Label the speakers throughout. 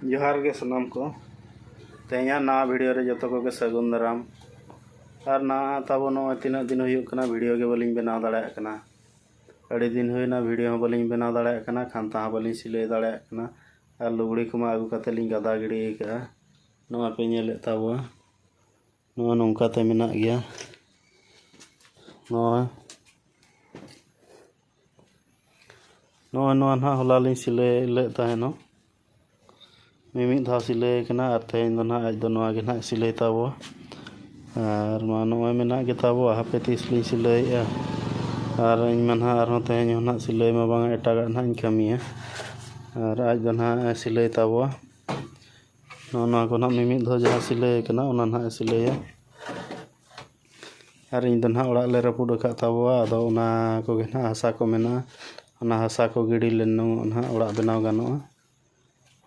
Speaker 1: ᱡᱚᱦᱟᱨ ᱜᱮ ᱥᱟᱱᱟᱢ ᱠᱚ ᱛᱮᱦᱮᱧᱟᱜ ᱱᱟᱣᱟ ᱵᱷᱤᱰᱤᱭᱳ ᱨᱮ ᱡᱚᱛᱚ ᱠᱚᱜᱮ ᱥᱟᱹᱜᱩᱱ ᱫᱟᱨᱟᱢ ᱟᱨ ᱱᱟᱣᱟ ᱛᱟᱵᱚ ᱱᱚᱜᱼᱚᱭ ᱛᱤᱱᱟᱹᱜ ᱫᱤᱱ ᱦᱩᱭᱩᱜ ᱠᱟᱱᱟ ᱵᱷᱤᱰᱤᱭᱳ ᱜᱮ ᱵᱟᱹᱞᱤᱧ ᱵᱮᱱᱟᱣ ᱫᱟᱲᱮᱭᱟᱜ ᱠᱟᱱᱟ ᱟᱹᱰᱤ ᱫᱤᱱ ᱦᱩᱭᱱᱟ ᱵᱷᱤᱰᱤᱭᱳ ᱦᱚᱸ ᱵᱟᱹᱞᱤᱧ ᱵᱮᱱᱟᱣ ᱫᱟᱲᱮᱭᱟᱜ ᱠᱟᱱᱟ ᱠᱷᱟᱱᱛᱟ ᱦᱚᱸ ᱵᱟᱹᱞᱤᱧ ᱥᱤᱞᱟᱹᱭ ᱫᱟᱲᱮᱭᱟᱜ ᱠᱟᱱᱟ ᱟᱨ ᱞᱩᱜᱽᱲᱤ ᱠᱚᱢᱟ ᱟᱹᱜᱩ ᱠᱟᱛᱮ ᱞᱤᱧ ᱜᱟᱫᱟ ᱜᱤᱰᱤ ᱟᱠᱟᱫᱼᱟ ᱱᱚᱣᱟ ᱯᱮ ᱧᱮᱞᱮᱫ ᱛᱟᱵᱚᱣᱟ ᱱᱚᱣᱟ ᱱᱚᱝᱠᱟᱛᱮ ᱢᱮᱱᱟᱜ ᱜᱮᱭᱟ ᱱᱚᱣᱟ ᱱᱚᱜᱼᱚᱭ ᱱᱚᱣᱟ ᱱᱟᱦᱟᱜ ᱦᱚᱞᱟ ᱞᱤᱧ ᱥᱤᱞᱟᱹᱭ ᱞᱮᱫ ᱛᱟᱦᱮᱱᱚᱜ ᱢᱤᱢᱤᱫ ᱫᱷᱟᱣ ᱥᱤᱞᱟᱹᱭ ᱠᱟᱱᱟ ᱟᱨ ᱛᱮᱦᱮᱧ ᱫᱚ ᱱᱟᱦᱟᱜ ᱟᱡ ᱫᱚ ᱱᱚᱣᱟ ᱜᱮ ᱱᱟᱦᱟᱜ ᱥᱤᱞᱟᱹᱭ ᱛᱟᱵᱚᱣᱟ ᱟᱨ ᱢᱟ ᱱᱚᱜᱼᱚᱭ ᱢᱮᱱᱟᱜ ᱜᱮ ᱛᱟᱵᱚᱣᱟ ᱦᱟᱯᱮ ᱛᱤᱥ ᱞᱤᱧ ᱥᱤᱞᱟᱹᱭᱮᱜᱼᱟ ᱟᱨ ᱤᱧ ᱢᱟ ᱱᱟᱦᱟᱜ ᱟᱨᱦᱚᱸ ᱛᱮᱦᱮᱧ ᱦᱚᱸ ᱱᱟᱦᱟᱜ ᱥᱤᱞᱟᱹᱭ ᱢᱟ ᱵᱟᱝᱟ ᱮᱴᱟᱜᱟᱜ ᱱᱟᱦᱟᱜ ᱤᱧ ᱠᱟᱹᱢᱤᱭᱟ ᱟᱨ ᱟᱡ ᱫᱚ ᱱᱟᱦᱟᱜ ᱮ ᱥᱤᱞᱟᱹᱭ ᱛᱟᱵᱚᱣᱟ ᱱᱚᱜᱼᱚ ᱱᱚᱣᱟ ᱠᱚ ᱦᱟᱸᱜ ᱢᱤᱢᱤᱫ ᱫᱷᱟᱣ ᱡᱟᱦᱟᱸ ᱥᱤᱞᱟᱹᱭ ᱠᱟᱱᱟ ᱚᱱᱟ ᱦᱟᱸᱜ ᱮ ᱥᱤᱞᱟᱹᱭᱟ ᱟᱨ ᱤᱧ ᱫᱚ ᱦᱟᱸᱜ ᱚᱲᱟᱜ ᱞᱮ ᱨᱟᱹᱯᱩᱫ ᱟᱠᱟᱫ ᱛᱟᱵᱚᱣᱟ ᱟᱫᱚ ᱚᱱᱟ ᱠᱚᱜᱮ ᱦᱟᱸᱜ ᱦᱟᱥᱟ ᱠᱚ ᱢᱮᱱᱟᱜᱼᱟ ᱚᱱᱟ ᱦᱟᱥᱟ ᱠᱚ ᱜᱤᱰᱤ ᱞᱮᱱᱚᱜ ᱦᱟᱸᱜ ᱚᱲᱟᱜ ᱵᱮᱱᱟᱣ ᱜᱟᱱᱚᱜᱼᱟ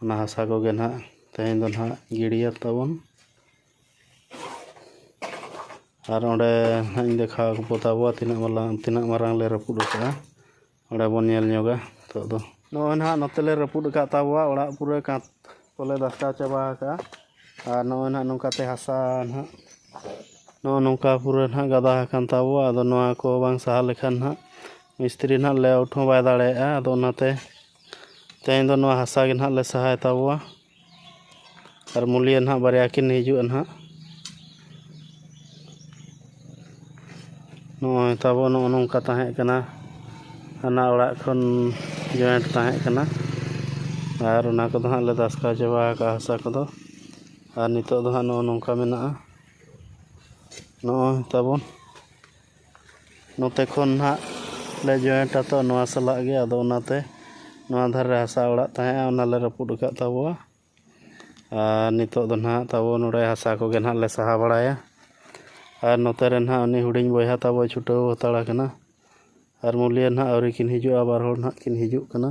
Speaker 1: ᱚᱱᱟ ᱦᱟᱥᱟ ᱠᱚᱜᱮ ᱦᱟᱸᱜ ᱛᱮᱦᱮᱧ ᱫᱚ ᱦᱟᱸᱜ ᱜᱤᱰᱤᱭᱟ ᱛᱟᱵᱚᱱ ᱟᱨ ᱚᱸᱰᱮ ᱦᱟᱸᱜ ᱤᱧ ᱫᱮᱠᱷᱟᱣ ᱟᱠᱚ ᱛᱟᱵᱚᱣᱟ ᱛᱤᱱᱟᱹᱜ ᱢᱟᱨᱟᱝ ᱛᱤᱱᱟᱹᱜ ᱢᱟᱨᱟᱝ ᱞᱮ ᱨᱟᱹᱯᱩᱫ ᱟᱠᱟᱫᱼᱟ ᱚᱸᱰᱮ ᱵᱚᱱ ᱧᱮᱞ ᱧᱚᱜᱟ ᱱᱤᱛᱚᱜ ᱫᱚ ᱱᱚᱜᱼᱚᱭ ᱱᱟᱦᱟᱜ ᱱᱚᱛᱮ ᱞᱮ ᱨᱟᱹᱯᱩᱫ ᱟᱠᱟᱫ ᱛᱟᱵᱚᱣᱟ ᱚᱲᱟᱜ ᱯᱩᱨᱟᱹ ᱠᱟᱸᱛ ᱠᱚᱞᱮ ᱫᱷᱟᱥᱠᱟᱣ ᱪᱟᱵᱟ ᱟᱠᱟᱫᱼᱟ ᱟᱨ ᱱᱚᱜᱼᱚᱭ ᱱᱟᱦᱟᱜ ᱱᱚᱝᱠᱟ ᱛᱮ ᱦᱟᱥᱟ ᱱᱟᱦᱟᱜ ᱱᱚᱜᱼᱚᱭ ᱱᱚᱝᱠᱟ ᱯᱩᱨᱟᱹ ᱱᱟᱦᱟᱜ ᱜᱟᱫᱟ ᱟᱠᱟᱱ ᱛᱟᱵᱚᱣᱟ ᱟᱫᱚ ᱱᱚᱣᱟ ᱠᱚ ᱵᱟᱝ ᱥᱟᱦᱟ ᱞᱮᱠᱷᱟᱱ ᱱᱟᱦᱟᱜ ᱢᱤᱥᱛᱨᱤ ᱱᱟᱦᱟᱜ ᱞᱮ ᱟᱣᱩᱴ ᱦᱚᱸ ᱵᱟᱭ ᱫᱟᱲᱮᱭᱟᱜᱼᱟ ᱟᱫᱚ ᱚᱱᱟᱛᱮ ᱛᱮᱦᱮᱧ ᱫᱚ ᱱᱚᱣᱟ ᱦᱟᱥᱟ ᱜᱮ ᱱᱟᱦᱟᱜ ᱞᱮ ᱥᱟᱦᱟᱭ ᱛᱟᱵᱚᱣᱟ ᱟᱨ ᱢᱩᱞᱤᱭᱟᱹ ᱱᱟᱜ ᱵᱟᱨᱭᱟ ᱠᱤᱱ ᱦᱤᱡᱩᱜᱼᱟ ᱱᱟᱜ ᱱᱚᱜᱼᱚᱭ ᱛᱟᱵᱚ ᱱᱚᱜᱼᱚ ᱱᱚᱝᱠᱟ ᱛᱟᱦᱮᱸᱜ ᱠᱟᱱᱟ ᱦᱟᱱᱟ ᱚᱲᱟᱜ ᱠᱷᱚᱱ ᱡᱚᱭᱮᱱᱴ ᱛᱟᱦᱮᱸᱜ ᱠᱟᱱᱟ ᱟᱨ ᱚᱱᱟ ᱠᱚᱫᱚ ᱦᱟᱸᱜ ᱞᱮ ᱫᱷᱟᱥᱠᱟᱣ ᱪᱟᱵᱟ ᱠᱟᱜᱼᱟ ᱦᱟᱥᱟ ᱠᱚᱫᱚ ᱟᱨ ᱱᱤᱛᱳᱜ ᱫᱚ ᱦᱟᱸᱜ ᱱᱚᱜᱼᱚ ᱱᱚᱝᱠᱟ ᱢᱮᱱᱟᱜᱼᱟ ᱱᱚᱜᱼᱚᱭ ᱛᱟᱵᱚᱱ ᱱᱚᱛᱮ ᱠᱷᱚᱱ ᱱᱟᱦᱟᱜ ᱞᱮ ᱡᱚᱭᱮᱱᱴ ᱟᱛᱚ ᱱᱚᱣᱟ ᱥᱟᱞᱟᱜ ᱜᱮ ᱟᱫᱚ ᱚᱱᱟᱛᱮ ᱱᱚᱣᱟ ᱫᱷᱟᱨᱮ ᱨᱮ ᱦᱟᱥᱟ ᱚᱲᱟᱜ ᱛᱟᱦᱮᱸᱜᱼᱟ ᱚᱱᱟ ᱞᱮ ᱨᱟᱹᱯᱩᱫ ᱟᱠᱟᱫ ᱛᱟᱵᱚᱣᱟ ᱟᱨ ᱱᱤᱛᱚᱜ ᱫᱚ ᱱᱟᱦᱟᱜ ᱛᱟᱵᱚ ᱱᱚᱰᱮ ᱦᱟᱥᱟ ᱠᱚᱜᱮ ᱱᱟᱦᱟᱜ ᱞᱮ ᱥᱟᱦᱟ ᱵᱟᱲᱟᱭᱟ ᱟᱨ ᱱᱚᱛᱮ ᱨᱮ ᱱᱟᱦᱟᱜ ᱩᱱᱤ ᱦᱩᱰᱤᱧ ᱵᱚᱭᱦᱟ ᱛᱟᱵᱚᱭ ᱪᱷᱩᱴᱟᱹᱣ ᱦᱟᱛᱟᱲ ᱟᱠᱟᱱᱟ ᱟᱨ ᱢᱩᱞᱤᱭᱟᱹ ᱱᱟᱦᱟᱜ ᱟᱹᱣᱨᱤ ᱠᱤᱱ ᱦᱤᱡᱩᱜᱼᱟ ᱵᱟᱨ ᱦᱚᱲ ᱱᱟᱦᱟᱜ ᱠᱤᱱ ᱦᱤᱡᱩᱜ ᱠᱟᱱᱟ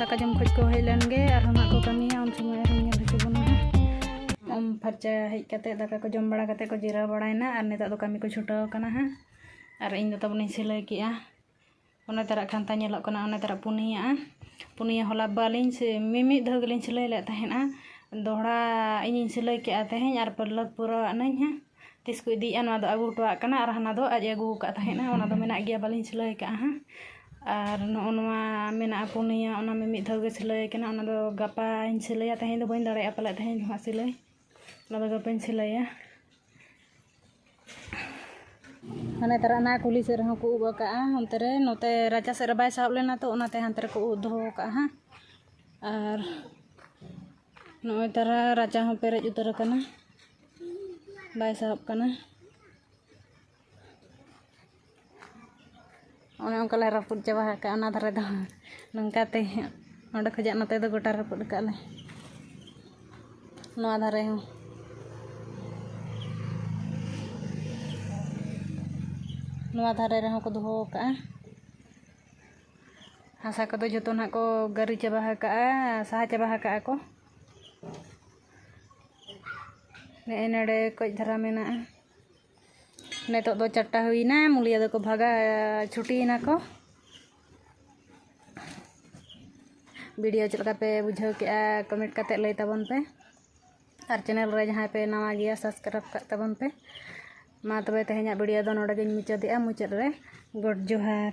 Speaker 1: ᱫᱟᱠᱟ ᱡᱚᱢ ᱠᱷᱚᱡ ᱠᱚ ᱦᱮᱡ ᱞᱮᱱ ᱜᱮ ᱟᱨᱦᱚᱸ ᱱᱟᱜ ᱠᱚ ᱠᱟᱹᱢᱤᱭᱟ ᱩᱱ ᱥᱚᱢᱚᱭ ᱟᱨᱦᱚᱸ ᱧᱮᱞ ᱦᱚᱪᱚ ᱵᱚᱱᱟ ᱩᱢ ᱯᱷᱟᱨᱪᱟ ᱦᱮᱡ ᱠᱟᱛᱮ ᱫᱟᱠᱟ ᱠᱚ ᱡᱚᱢ ᱵᱟᱲᱟ ᱠᱟᱛᱮ ᱠᱚ ᱡᱤᱨᱟᱹᱣ ᱵᱟᱲᱟᱭᱮᱱᱟ ᱟᱨ ᱱᱤᱛᱚᱜ ᱫᱚ ᱠᱟᱹᱢᱤ ᱠᱚ ᱪᱷᱩᱴᱟᱹᱣ ᱠᱟᱱᱟ ᱦᱟᱸᱜ ᱟᱨ ᱤᱧ ᱫᱚ ᱛᱟᱵᱚᱱᱤᱧ ᱥᱤᱞᱟᱹᱭ ᱠᱮᱜᱼᱟ ᱚᱱᱟ ᱛᱟᱨᱟᱜ ᱠᱷᱟᱱᱛᱟ ᱧᱮᱞᱚᱜ ᱠᱟᱱᱟ ᱚᱱᱟ ᱛᱟᱨᱟᱜ ᱯᱩᱱᱭᱟᱜᱼᱟ ᱯᱩᱱᱭᱟᱹ ᱦᱚᱞᱟ ᱵᱟᱹᱞᱤᱧ ᱢᱤᱢᱤᱫ ᱫᱷᱟᱣ ᱜᱮᱞᱤᱧ ᱥᱤᱞᱟᱹᱭ ᱞᱮᱫ ᱛᱟᱦᱮᱱᱟ ᱫᱚᱦᱲᱟ ᱤᱧᱤᱧ ᱥᱤᱞᱟᱹᱭ ᱠᱮᱜᱼᱟ ᱛᱮᱦᱮᱧ ᱟᱨ ᱯᱟᱹᱲᱞᱟᱹᱠ ᱯᱩᱨᱟᱹᱣᱟᱜ ᱱᱟᱹᱧ ᱦᱟᱸᱜ ᱛᱤᱥ ᱠᱚ ᱤᱫᱤᱭᱮᱜᱼᱟ ᱱᱚᱣᱟ ᱫᱚ ᱟᱹᱜᱩ ᱦᱚᱴᱚᱣᱟᱜ ᱠᱟᱱᱟ ᱟᱨ ᱦᱟᱱᱟ ᱫᱚ ᱟᱡ ᱮ ᱟᱹᱜᱩ ᱟᱠᱟᱫ ᱛᱟᱦᱮᱱ ᱚᱱᱟ ᱫᱚ ᱢᱮᱱᱟᱜ ᱜᱮᱭᱟ ᱵᱟᱹᱞᱤᱧ ᱥᱤᱞᱟᱹᱭ ᱠᱟᱜᱼᱟ ᱦᱟᱸᱜ ᱟᱨ ᱱᱚᱜᱼᱚ ᱱᱚᱣᱟ ᱢᱮᱱᱟᱜᱼᱟ ᱯᱩᱱᱭᱟᱹ ᱚᱱᱟ ᱢᱟ ᱢᱤᱫ ᱫᱷᱟᱣ ᱜᱮ ᱥᱤᱞᱟᱹᱭ ᱠᱟᱱᱟ ᱚᱱᱟ ᱫᱚ ᱜᱟᱯᱟᱧ ᱥᱤᱞᱟᱹᱭᱟ ᱛᱮᱦᱮᱧ ᱫᱚ ᱵᱟᱹᱧ ᱫᱟᱲᱮᱭᱟᱜᱼᱟ ᱯᱟᱞᱮᱫ ᱛᱮᱦᱮᱧ ᱫᱚ ᱦᱟᱸᱜ ᱥᱤᱞᱟᱹᱭ ᱚᱱᱟ ᱫᱚ ᱜᱟᱯᱟᱧ ᱥᱤᱞᱟᱹᱭᱟ ᱦᱟᱱᱮ ᱛᱟᱨᱟ ᱚᱱᱟ ᱠᱩᱞᱦᱤ ᱥᱮᱫ ᱨᱮᱦᱚᱸ ᱠᱚ ᱩᱵ ᱟᱠᱟᱫᱼᱟ ᱚᱱᱛᱮ ᱨᱮ ᱱᱚᱛᱮ ᱨᱟᱪᱟ ᱥᱮᱫ ᱨᱮ ᱵᱟᱭ ᱥᱟᱦᱚᱵ ᱞᱮᱱᱟ ᱛᱚ ᱚᱱᱟᱛᱮ ᱦᱟᱱᱛᱮ ᱨᱮᱠᱚ ᱩᱵ ᱫᱚᱦᱚ ᱟᱠᱟᱫᱼᱟ ᱦᱟᱸᱜ ᱟᱨ ᱱᱚᱜᱼᱚᱭ ᱛᱟᱨᱟ ᱨᱟᱪᱟ ᱦᱚᱸ ᱯᱮᱨᱮᱡ ᱩᱛᱟᱹᱨ ᱟᱠᱟᱱᱟ ᱵᱟᱭ ᱥᱟᱦᱚᱵ ᱠᱟᱱᱟ ᱚᱱᱮ ᱚᱱᱠᱟ ᱞᱮ ᱨᱟᱹᱯᱩᱫ ᱪᱟᱵᱟ ᱟᱠᱟᱫᱼᱟ ᱚᱱᱟ ᱫᱷᱟᱨᱮ ᱫᱚ ᱱᱚᱝᱠᱟ ᱛᱮ ᱚᱸᱰᱮ ᱠᱷᱚᱱᱟᱜ ᱱᱚᱛᱮ ᱫᱚ ᱜᱚᱴᱟ ᱨᱟᱹᱯᱩᱫ ᱟᱠᱟᱫ ᱞᱮ ᱱᱚᱣᱟ ᱫᱷᱟᱨᱮ ᱦᱚᱸ ᱱᱚᱣᱟ ᱫᱷᱟᱨᱮ ᱨᱮᱦᱚᱸ ᱠᱚ ᱫᱚᱦᱚ ᱟᱠᱟᱫᱼᱟ ᱦᱟᱥᱟ ᱠᱚᱫᱚ ᱡᱚᱛᱚ ᱱᱟᱦᱟᱜ ᱠᱚ ᱜᱟᱹᱨᱤ ᱪᱟᱵᱟ ᱟᱠᱟᱫᱼᱟ ᱥᱟᱦᱟ ᱪᱟᱵᱟ ᱟᱠᱟᱫᱼᱟ ᱠᱚ ᱱᱮᱜᱼᱮ ᱱᱚᱰᱮ ᱠᱟᱹᱡ ᱫᱷᱟᱨᱟ ᱢᱮᱱᱟᱜᱼᱟ ᱱᱤᱛᱳᱜ ᱫᱚ ᱪᱟᱨᱴᱟ ᱦᱩᱭᱮᱱᱟ ᱢᱩᱞᱤᱭᱟᱹ ᱫᱚᱠᱚ ᱵᱷᱟᱜᱟ ᱪᱷᱩᱴᱤᱭᱮᱱᱟ ᱠᱚ ᱵᱷᱤᱰᱤᱭᱳ ᱪᱮᱫ ᱞᱮᱠᱟ ᱯᱮ ᱵᱩᱡᱷᱟᱹᱣ ᱠᱮᱫᱼᱟ ᱠᱚᱢᱮᱱᱴ ᱠᱟᱛᱮᱫ ᱞᱟᱹᱭ ᱛᱟᱵᱚᱱ ᱯᱮ ᱟᱨ ᱪᱮᱱᱮᱞ ᱨᱮ ᱡᱟᱦᱟᱸᱭ ᱯᱮ ᱱᱟᱣᱟ ᱜᱮᱭᱟ ᱥᱟᱵᱥᱠᱨᱟᱭᱤᱵᱽ ᱠᱟᱜ ᱛᱟᱵᱚᱱ ᱯᱮ ᱢᱟ ᱛᱚᱵᱮ ᱛᱮᱦᱮᱧᱟᱜ ᱵᱷᱤᱰᱤᱭᱳ ᱫᱚ ᱱᱚᱰᱮ ᱜᱤᱧ ᱢᱩᱪᱟᱹᱫᱮᱜᱼᱟ ᱢᱩᱪᱟᱹᱫ ᱨᱮ ᱜᱚᱰ ᱡᱚᱦᱟᱨ